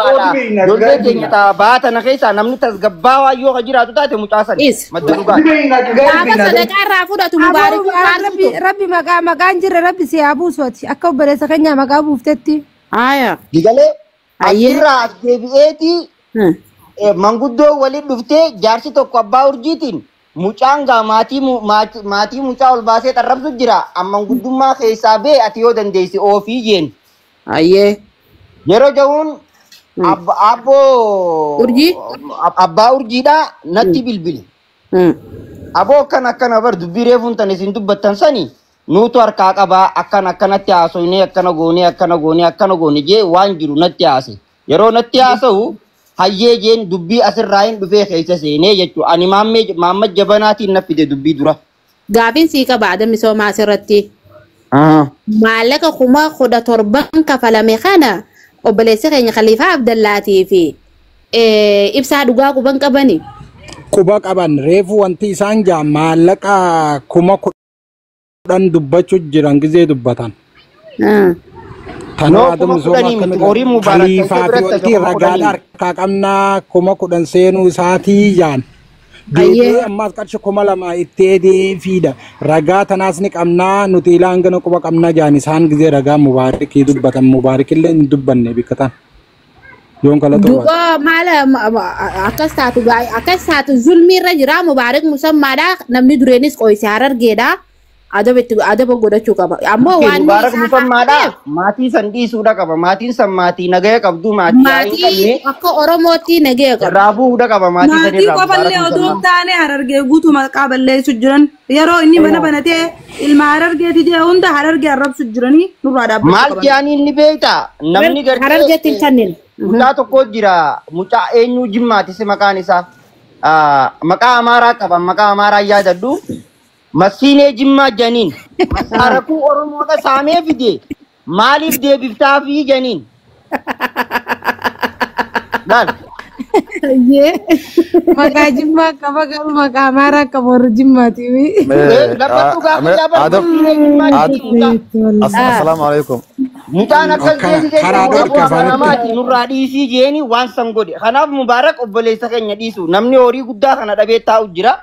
Ijoollee keenya ta'a ba'aa tana keessaa namni tasgabbaawaa yoo ka jiraatu taate mucaa sana. Is. Madda dhugaa. Gaafa sadaqaa irraa fudhatu mubaarak Aboo, maal rabbi fudhatu? rabbi maqaa maqaan jirre rabbi si haa buusu ati akka obboleessa keenyaa maqaa buuftetti. Haaya. Digalee Ayyee. achirraa as deebi'eetii Hmm. eh, manguddoo waliin dhuftee jaarsi tokko abbaa urjiitiin mucaan gaa maatii mu- maati- maatii mucaa ol baasee xarrabsu jira amma manguddummaa keessaa bee ati yoo dandeesse oofii jeen Hayyee. Yeroo ja'uun Hmm. abba- abboo Urjii? ab- abbaa urjiidhaa natti bilbili. Hmm. Aboo akkan akkana bar dubbii reefuun tan isin dubbattan sani nuutu harkaa qabaa akkan akkanatti haasoynee akkana goonee akkana goonee akkana goone jee waan jiru natti haase. Yeroo natti haasa'u hayyee jeen dubbii asirraa hin dhufee keessa seenee jechuudha. Ani maammee maamma jabanaatiin na fide dubbii dura. Gaafiin sii qaba ada misoomaa asirratti. Aha. Maallaqa kuma kudha torban kafalame kana obboleessi keenya Khaliifaa Abdallaatii fi eh, ibsaa dhugaa quban qabani. Quba qaban reefu wanti isaan jaa maallaqa kuma kudhan dubbachu jiran gizee dubbatan. Ah. Tanoo Noo Adam kuma Zoomaa kudhanii miti. akkamitti Horiin mubaarak ta'e kaliifaa fi biratti oltii kuma kudhanii ragaadha miti. harkaa qabnaa kuma kudhan seenuu isaatii jaan. Ayyee. Deebi'ee ammaas qarshi kuma lama itti eedee fiida. Ragaa tanaas ni qabnaa nuti ilaa hangana quba qabnaa jaan isaan gizee ragaa mubaarikii dubbatan mubaarikillee hin dubbanne bikkataan. Yoon kala xoo'aa. Du'oo maala ma- ma- akkas taatu gaa'e akkas taatu zulmii irra jira mubaarik musammaadha namni dureenis qoyse harargeedha Adaba itti adaba godhachuu qaba. Ammoo Miti waan Mubaarak isaa Musammaadha. haqateef Maatii san dhiisuudha qaba. Maatiin san maatii nagaya qabdu maatii yaa hin maatii qabne akka Oromootti nagaya qabu. irraa bu'uudha qaba maatii san Maatii irraa Mubaarak qofallee odoo hin Musammaa. taane harargee guutuu maqaa balleessu jiran yeroo inni mana Eeyaa. banatee ilma harargeeti jee hunda harargee arrabsu jiranii nurraa dhaabbachuu Maal qaban. jaaniin ni beekta namni Harar- Harargeetti hin gartee kanneen. mucaa tokko jira mucaa eenyuu jimmaatisi maqaan isaa Ah, maqaa amaaraa qaba maqaa amaaraa yaadadhu Massiinee Jimmaa Janiin maqaa rakuu Oromoodha saamee fide maaliif deebiftaafii Janiin? Laal. Ayyee. Maqaa jimmaa qaba garuu maqaa amaaraa qaba warra jimmaati. Eh, Lafa dhugaa ame- kiyyaa bar Adam- massiinee Jimmaa Ad- Janiin mucaa. As- Assalaamu alaikum. Mucaan akkas Karaa- deebisee karaa jedhu dhorka aboo afaan itti- amanamaati nurraa dhiisii jeeni waan san godhe. Kanaaf Mubaarak obboleessa keenya dhiisu. Namni horii guddaa kana dhabee taa'u jira.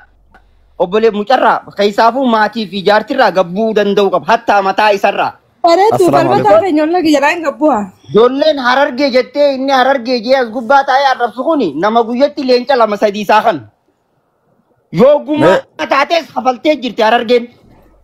Obbolee mucarraa keessaafuu maatii fi jaartirraa gabbuu danda'uu qaba. Hattaa mataa isarraa. Bareedu Assalaamu falmataa alaikum. keenya ollaa kiyya raan gabbuha. Ijoolleen harargee jettee inni harargee jee as gubbaa taa'ee arrabsu kuni nama guyyatti leenca lama sadii isaa kan. Yoo gumaa Mee taatees hafaltee jirti harargeen.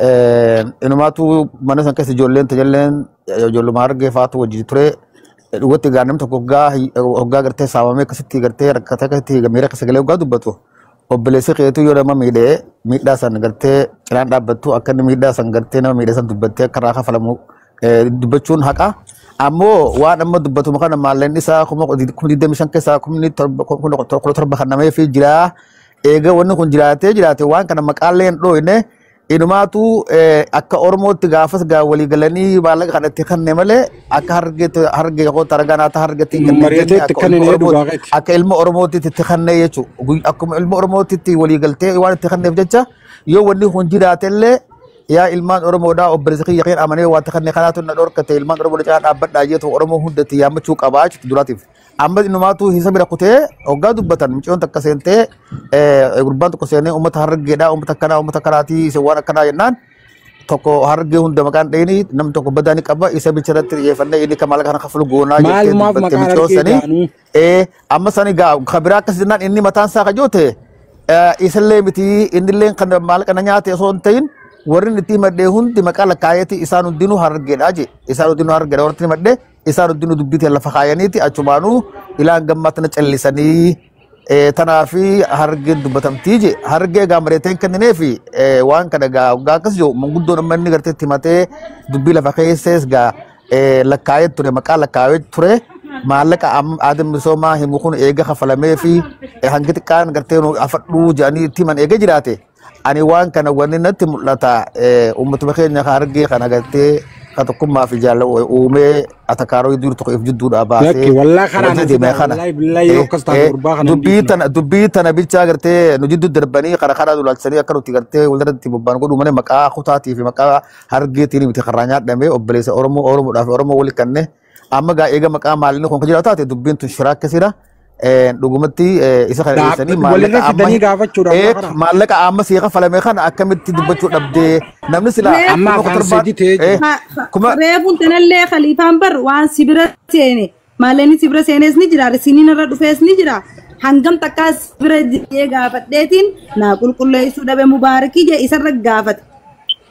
Eh, Inumaatu mana san keessa ijoolleen tajalleen ijoolluma argee faatu wajjin ture. Eh, Dhugatti egaa namni tokko hoggaa hi- hoggaa gartee saamamee akkasitti gartee rakkatee akkasitti miira keessa galee hoggaa dubbatu obboleessi keetu yoo nama miidhee miidhaa san gartee cinaan dhaabbattu akka inni miidhaa san gartee nama miidhee san dubbattee akka irraa kafalamu eh, dubbachuun haqa. Ammoo waan amma dubbatamu kana maalleen isaa kuma digdamii shan keessaa kumni torba kuma torba kan nameefi jiraa. Eega wanni kun jiraatee jiraate waan kana maqaallee hin dhooyne inumaatu akka Oromootti gaafas gaa walii galanii maallaqa kana itti kanne malee akka hargeetti hargee koo taragaa naata hargeetti hin kennine jenne Mari'ateetti akka ilma kanninee Oromootti dhugaa keeti. akka ilma Oromootti itti kanne jechuudha. Akkuma ilma Oromootti itti walii galtee waan itti kanneef jecha yoo wanni kun jiraate illee yaa ilmaan Oromoodhaa obboleessa kiyya keen amanee waan itti kanne kanaatu na dhorkate ilmaan Oromoo caalaa dhaabbadhaa jeetu Oromoo hundatti yaammachuu qabaa jechuudha duraatiif. Amma inumaatuu isa bira kutee hoggaa dubbatan mucayyoon takka seentee eh, gurbaan tokko seenee uummata harargeedhaa uummata akkanaa uummata akkanaatii isin waan akkanaa jennaan tokko harargee hunda maqaan dhayini namni tokko badaa ni qaba isa bicha irratti xiyyeeffannee inni kan maallaqa kana kafalu goonaa jettee Maalumaaf dubbatte maqaa mucayyoon harargee sanii jaanuu. ee amma sani gaa kan biraa akkas jennaan inni mataan isaa kajoote isallee miti innillee kan maallaqa na nyaate osoo hin ta'in warri inni itti himadhee hundi maqaa lakkaa'eeti isaan hundinuu harargeedhaa jee isaan hundinuu harargeedha warri itti himadhee Isaan hundinuu dubbii tee lafa kaayaniiti achumaanuu ilaan gammaa tana callisanii eh, tanaa fi hargeen dubbatamtii je hargee egaa mareeteen kenninee fi eh, waan kana egaa waggaa akkas jiru manguddoon amma inni gartee itti himatee dubbii lafa keessees egaa eh, lakkaa'ee ture maqaa lakkaa'ee ture maallaqa am- aadaan misoomaa himu kun eega kafalamee fi eh, hangi xiqqaan gartee nu afadhuu jedhanii itti himan eega jiraate Ani waan kana wanni natti mul'ata eh, uummatuma keenya ka argee kan agartee ka tokkummaa fi jaalala u- uumee atakaaroo iddoo tokko if jidduudhaa Lakki baasee wallaa karaa wajjin na deemee fidaa kana wallaahi billaahi yoo eh, akkas taate eh, gurbaa kana hin dubbii dhiifna. tana dubbii tana bichaa agartee nu jidduu darbanii karaa karaa dulaalchisanii akka nuti agartee walirratti bobbaan godhuu malee maqaa kutaatii fi maqaa hargeetiin miti karaa nyaadhamee obboleessa Oromoo Oromoodhaaf Oromoo waliin kannee Amma gaa eega maqaa maalinni kun kan jiraatu taate dubbiin tun shiraa akka sira dhugumatti isa kana dhiyeessanii maallaqa amma eeg maallaqa amma sii kafalame kana akkamitti dubbachuu dhabdee namni sila amma afaan sadii ta'ee jira. kuma Reebuun tanallee khaliifaan bar waan si bira seene maalinni si bira seenes ni jira risiniin irra dhufees ni jira hangam takkaa si bira jedhee gaafadheetiin naa qulqulleessuu dhabe mubaarikii jee isarra gaafate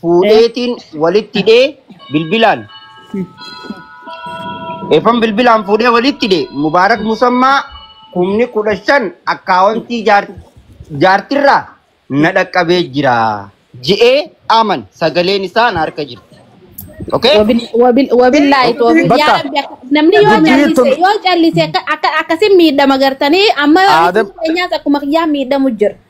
fuudheetiin walitti hidhee bilbilaan efan bilbilaan fuudhee walitti hidhe mubaarak musammaa kumni kudha shan akkaawontii jaar- jaartirraa na dhaqqabee jira je'ee aman sagaleen isaa na harka jirti. Okay? Wabil- wabil- Wabillahi toofiq. Bakka. Yaa Rabbi akka- namni yoo Dubbii callise tun- yoo callise akka- akka- akkasiin miidhama gartanii amma Aadam- keenyaas akkuma kiyyaan miidhamu jira.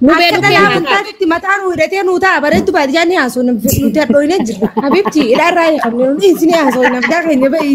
Nu beeku Akkana keenyaa laafin taate itti mataa nu hidhatee nu ta'a bareeddu baadiyyaa ni haasoo nuti hadhooyinee jirra. Habibti hidhaa irraa hiikamne nuti isin haasoo hin hafdaa keenya ba'i.